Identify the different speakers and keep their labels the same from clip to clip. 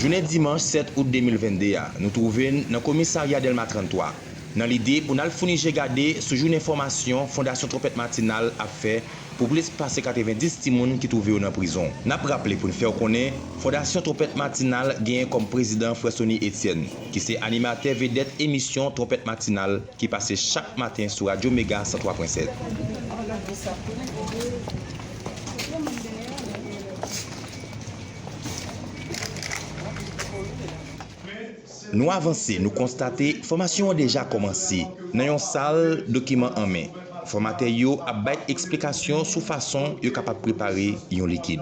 Speaker 1: Jounen dimanch 7 out 2022 a, nou twouve n nan komisarya Dèlma 33, nan lide pou n al founi je gade sou jounen fòmasyon Fondasyon Twonpèt Matinal ap fè pou plis pase 90 timoun ki twouve yo nan prizon. N ap raple pou n fè w konnen, Fondasyon Twonpèt Matinal genyen kòm prezidan Frè Sony Etienne, ki se animatè vedèt emisyon Twonpèt Matinal, ki pase chak maten sou Radyo Mega 103 pwen 7. Nou avanse, nou konstate fòmasyon an deja kòmanse nan yon sal dokiman an men. Fòmatè yo ap bay eksplikasyon sou fason yo kapab prepare yon likid.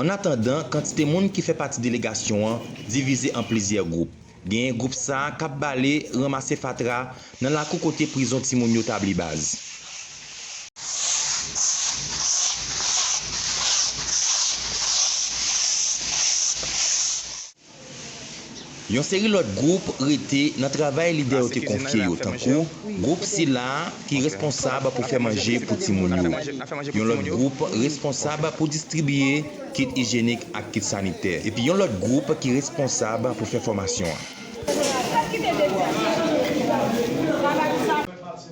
Speaker 2: Annatandan,
Speaker 1: kantite moun ki fè pati delegasyon an divize an plizyè gwoup. Genyen gwoup sa k ap bale, ranmase fatra nan lakou kote prizon timoun yo tabli baz. Yon seri lòt gwoup rete nan travay lidè yo te konfye yo tankou gwoup sila ki responsab pou fè manje pou timoun yo. Yon lòt gwoup responsab pou distribiye kit ijyenik ak kit sanitè. Epi yon lòt gwoup ki responsab pou fè fòmasyon an.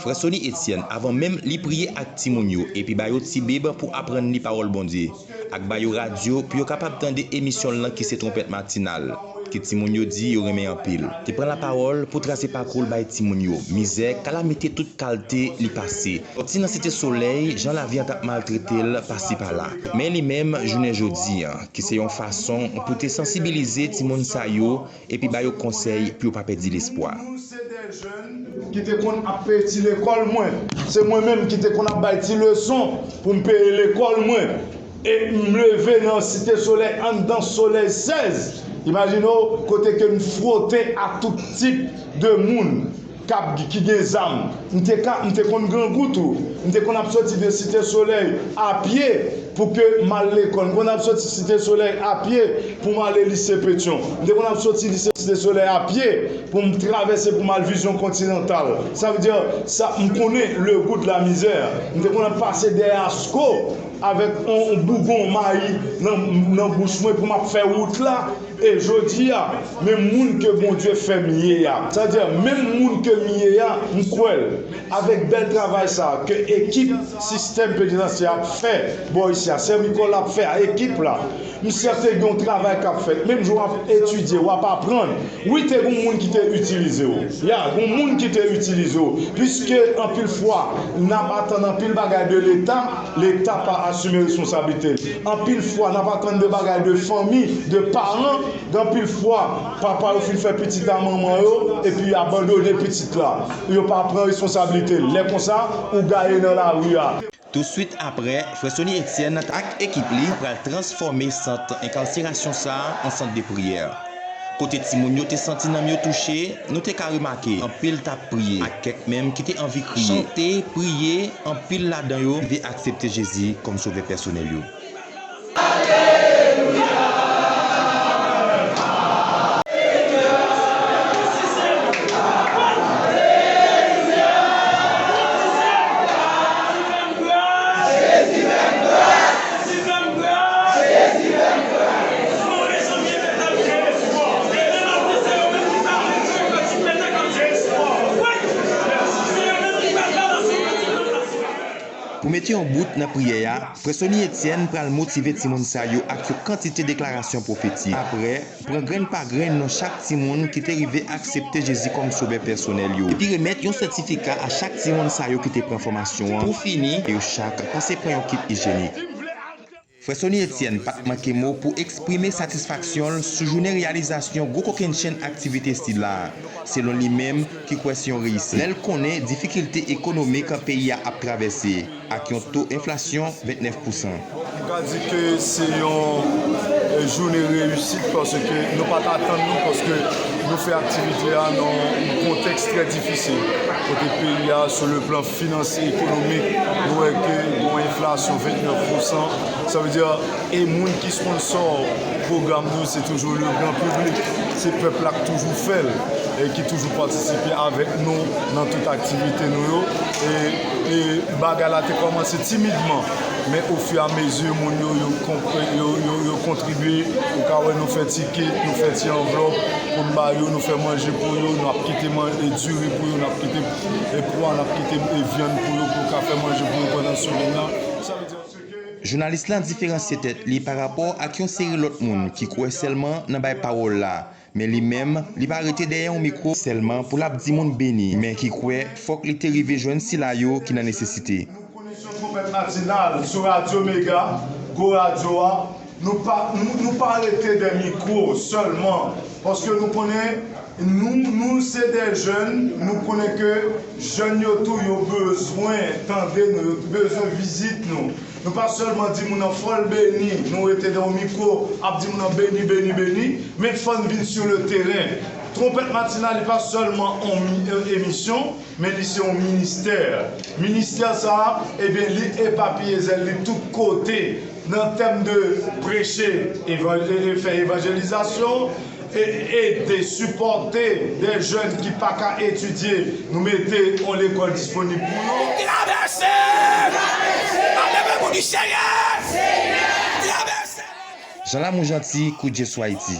Speaker 1: Frè Sony Etienne avan menm li priye ak timoun yo epi ba yo tibib pou aprann li pawòl Bondye. ak ba yo radyo pou yo kapab tande emisyon l lan ki se Twonpèt Matinal, ke timoun yo di yo renmen anpil. Te pran lapawòl pou trase pakou l bay timoun yo, mizè, kalamite tout kalte li pase, sòti nan Site Solèy, jan lavi an t ap maltrete l pasi pala. Men li menm, jounen jodi, ki se yon fason pou te sansibilize timoun sa yo epi ba yo konsèy pou yo pa pèdi lespwa. Nou se de jèn
Speaker 3: ki te konn ap peye ti lekòl mwen. Se mwen menm ki te konn ap bay ti leson pou m peye lekòl mwen. E m leve nan Site Solèy anndan solèy 16, imajine w, kote ke m fwote a tout tip de moun. kap di ki gen zam m te ka m te konn grangou tou m te konn ap soti de site solèy a pye pou ke m al lekòl m konn ap soti site solèy a pye pou m ale lise petyon m te konn ap soti lise site solèy a pye pou m travèse pou m al vizyon kontinantal sa vle di sa m konnen le gou de la mizè m te konn ap pase dèyè asko avèk on bougon mayi nan bouch mwen pou m ap fè wout la. E jodi a, menm moun ke Bondye fè m ye a, sa vle di menm moun ke m ye a, m kwè l, avèk bèl travay sa a ke ekip sistèm penitansye a ap fè bò isi a, sè Micol ap fè a, ekip la, m sèten gen yon travay k ap fèt. Menm jan w ap etidye, w ap aprann. Wi, te gen yon moun ki te itilize w. Ya, gen yon moun ki te itilize w. Piske anpil fwa, n ap atann anpil bagay de Leta. Leta pa asime responsablite l. Anpil fwa n ap atann de bagay de fanmi, de paran, gen anpil fwa papa yo fin fè pitit a manman yo epi yo abandone pitit la. Yo pa pran responsablite l. Lè konsa, ou gaye nan lari a. Tousuit
Speaker 1: aprè, frè Sony Etienne ak ekip li pral transfòme sant enkarserasyon sa a an sant de priyè. Kote timoun yo te santi nanm yo touche, nou te ka remake anpil t ap priye, ak kèk menm ki te anvi kriye, chante, priye, anpil ladan yo ki te aksepte Jezi kòm Sovè pèsonèl yo. Pou mete yon bout nan priyè a, Frè Sony Etienne pral motive timoun sa yo ak yon kantite deklarasyon pwofetik. Apre, pran grenn pa grenn non chak timoun ki te rive aksepte Jezi kòm Sovè pèsonèl yo, epi remèt yon sètifika a chak timoun sa yo ki te pran fòmasyon an. Pou fini, yo chak pase pran yon kit ijyenik. Frè Sony Etienne pat manke mo pou eksprime satisfaksyon l sou jounen reyalizasyon gwo kokennchenn aktivite sila a, selon li menm ki kwè se yon reyisit. Lè l konnen difikilte ekonomik peyi a ap travèse ak yon to enflasyon 29 pousan. M ka
Speaker 3: di ke se yon jounen reyisit paske nou pat atann li paske nou fè aktivite a nan yon kontèks trè difisil kote peyi a sou le plan. Finansye, ekonomik, nou wè ke gen yon enflasyon 29 pou san, sa vle di, e moun ki sponsò pwogram nou yo se toujou le gran piblik, se pèp la k toujou fè l, e ki toujou patisipe avèk nou nan tout aktivite nou yo, e bagay la te kòmanse timidman, men ofiramezi moun yo yo kontribye, ou ka wè nou fè ti kit, nou fè ti anvlòp pou n ba yo, nou fè manje pou yo, n ap kite diri pou yo, n ap kite. E pwa nap kite e vyann pou yo pou yo ka fè manje pou yo pandan semèn nan. Jounalis lan diferansye
Speaker 1: tèt li pa rapò ak yon seri lòt moun ki kwè sèlman nan bay pawòl la, men li menm li pa rete dèyè yon mikwo sèlman pou lap di moun beni men ki kwè fòk li te rive jwenn sila yo ki nan nesesite. Pou koneksyon Twonpèt
Speaker 3: Matinal sou Radyo Mega, Gwo Radyo a, nou pa nou pa rete dè mikwo sèlman paske nou konnen nou nou se dè jèn, nou konnen ke jèn yo tou yo bezwen tande nou, yo bezwen vizit nou. Nou pa sèlman di moun nan fò l beni, nou rete dè yon mikwo ap di moun nan beni, beni, beni, men fò n vin sou le teren. Twonpèt Matinal li pa sèlman yon emisyon, Men li se yon ministè. Ministè sa a, ebyen li epapiye zèl li tout kote nan tèm de preche, fè evanjelizasyon, ede, sipòte de jèn ki pa ka etidye, nou mete yon lekòl disponib pou yo. Travèse! Travèse!
Speaker 1: N ap leve pou di Senyè! Senyè! Travèse! Jean Lamour Jeanty, Kout Je Sou Ayiti.